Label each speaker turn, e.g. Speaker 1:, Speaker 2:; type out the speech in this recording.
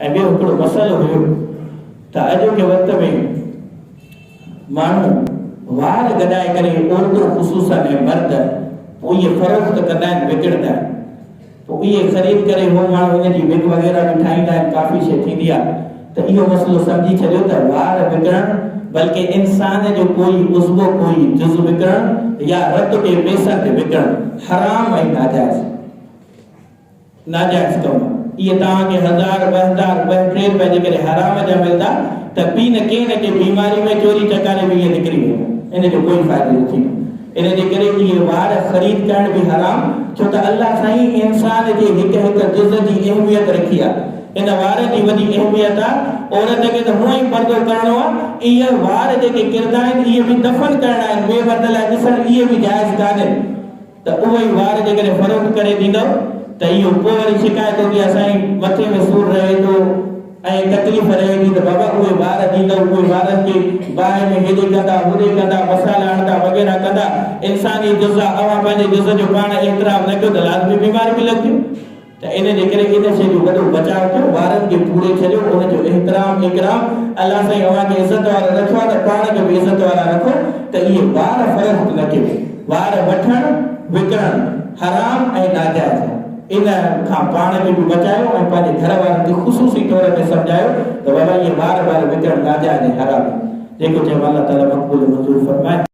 Speaker 1: ۽ ٻيو هڪڙو مسئلو هيو ته اڄوڪي وقت ۾ ماڻهو وار گڏائي ڪري عورتون خصوصا ۽ مرد پوء اهي فروخت ڪندا آهن وڪڻندا آهن پوء اهي خريد ڪري هو ماڻهو ان جي وگ وغيره به ٺاهيندا آهن ڪافي شيء ٿيندي آهي ته اهو مسئلو سمجهي ڇڏيو ته وار وڪڻڻ بلڪه انسان جو ڪوئي عضوو ڪوئي جز وڪڻڻ يا رت ڪي پيسن تي وڪڻڻ حرام ۽ ناجائز آهي. ناجائز ڪم، اهي توهان کي هزار، ٻه هزار، ٻه ٽي روپيا جيڪڏهن حرام جا ملندا ته پي نه ڪنهن نه ڪنهن بيماري ۾ چوري چڪاري به اهي نڪري ويندا، ان جو ڪوئي فائدو نه ٿيندو. ان جي ڪري اهي وار خريد ڪرڻ به حرام، ڇو ته الله سائين انسان جي هڪ هڪ جز جي اهميت رکي آ. ان وارن جي وڏي اهميت آ. عورت کي ته هونئن ئي پردو ڪرڻو آ. اهي وار جيڪي ڪردا آهن، اهي به دفن ڪرڻا آهن، ٻئي مرد لاء ڏسڻ اهي به جائز ڪانهن. ته اهي ئي وار جيڪڏهن فروخت ڪري ڏيندؤ ته اهو پوء وري شڪايت هوندي آهي سائين مٿي ۾ سور رهي ٿو ۽ تڪليف رهي ٿي ته بابا اهي وار ڏيندؤ اهي وارن کي باهه ۾ هيڏي ڪندا هوڏي ڪندا مسالا هڻدا وغيره ڪندا انساني جزا اوهان پنهنجي جز جو پاڻ احترام نه ڪيو ته لازمي بيماري به لڳنديون. ته ان جي ڪري ان شيء جو وڏو بچاء ڪيو، وارن کي پوري ڇڏيو، ان جو احترام اڪرام الله سائين اوهان کي عزت وارو رکيو آهي ته پاڻ کي به عزت وارا رکو ته اهي وار فرست نه ڪيو، وار وٺڻ وڪڻڻ حرام ۽ ناجائز آهي، ان کان پاڻ کي به بچايو ۽ پنهنجي گهر وارن کي خصوصي طور ۾ سمجهايو ته بابا اهي وار بار وڪڻڻ ناجائز ۽ حرام آهن، جيڪو چيم الله تعالي مقبول ۽ منظور فرمائي.